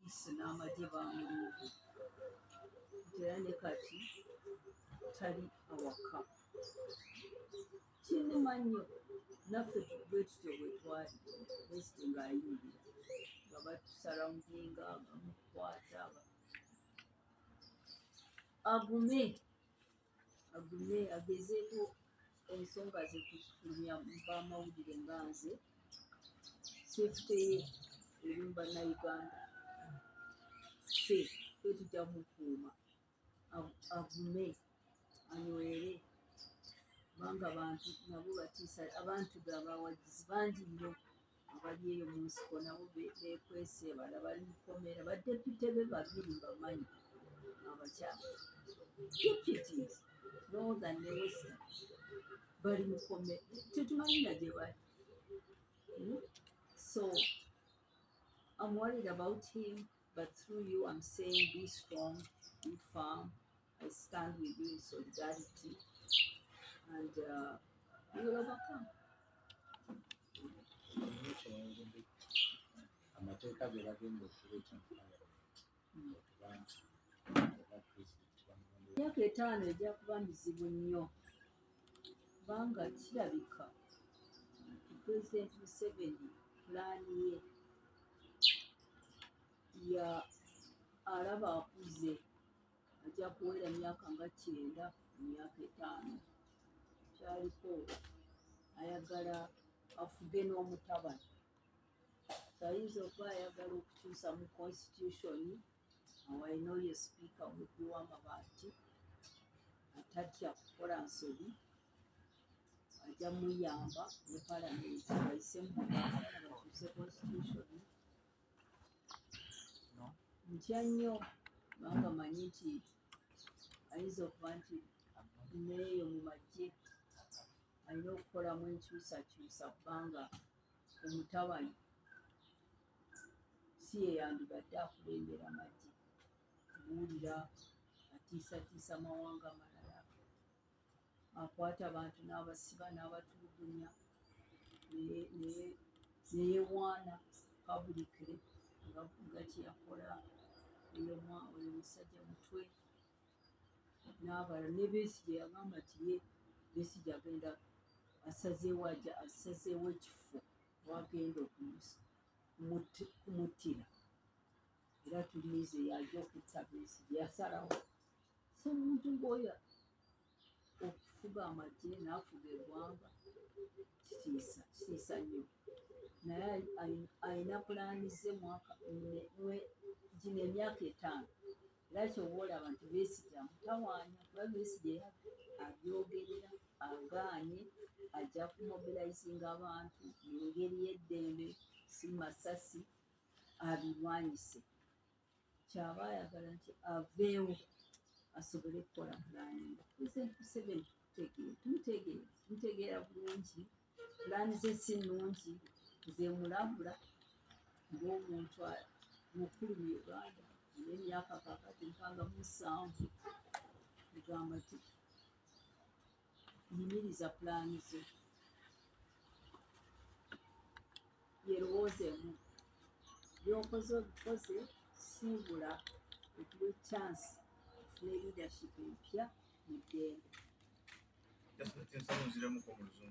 isi n'amagye baamulimbye nti era ne kati tali awaka kinnuma nnyo naffe bwe tutyo bwe twali pulezidenti ng'ayingira nga batusarawundinga bamukwata agume agume agezeeko ensonga ze kufulumya mu bamawulire nga nze sefuteye eri mu bannayuganda ffe ffe tujja mukuuma Agu- agume anywere kubanga abantu nabo batiisa abantu be abawagizi bangi nnyo abali eyo mu nsiko nabo bekwese bala bali mukomera badepite be babiri bamanyi abakyala deputies northern ne western bali mukomera tetumanyi na gye bali hmm? so I'm worried about him but through you I'm saying be strong be firm I stand with you in solidarity and uh, you will overcome amateeka ge bagenda okuleeta mu palamenti okuba nti oba pulezidenti bamulonde myaka etaano ejja kuba mizibu nnyo kubanga kirabika pulezidenti museveni pulaani ye ya alaba akuze ajja kuwera myaka nga kyenda emyaka etaano kyaliko ayagala afuge n'omutabani ayinza okuba ayagala okukyusa mu constitution awalina oyo sipiika omubbi w'amabaati atatya kukola nsobi ajja muyamba ne palamenti ayise mu bakyuse constitution ntya nnyo kubanga manyi nti ayinza okuba nti neeyo mu magye alina okukolamu enkyusakyusa kubanga omutabani si yeyandibadde akulembera magye kuwulira atiisatiisa mawanga malala akwata abantu n'abasiba n'abatulugunya neyewaana pabulikire ngavuga kyeyakola oyo musajja mutwe n'abala ne besigye yagamba nti ye besigye agenda asazeewo aja asazeewo ekifo wagenda okumusa kumuttira era tulinze yaja okutta Besigye yasalawo so omuntu ng'oyo okufuga amagye n'afuga eggwanga kitiisa kitiisa nnyo naye alina pulaani ze mwaka gino emyaka etaano era kyoba olaba nti Besigye amutawaanya kuba Besigye abyogerera agaanye ajja kumobilizinga abantu mu ngeri y'eddembe si masasi abirwanyise kyaba ayagala nti aveewo asobole kukola pulaani museveni tumutegeera bulungi pulaani ze si nnungi zemulambula ng'omuntu mukulu mu uganda n'emyaka kakati mpanga musanvu egamba ti yimiriza pulaani zo yerowoozeemu byokoze obikoze simbula okuwa ekyansi ne leadership empya mu ddembe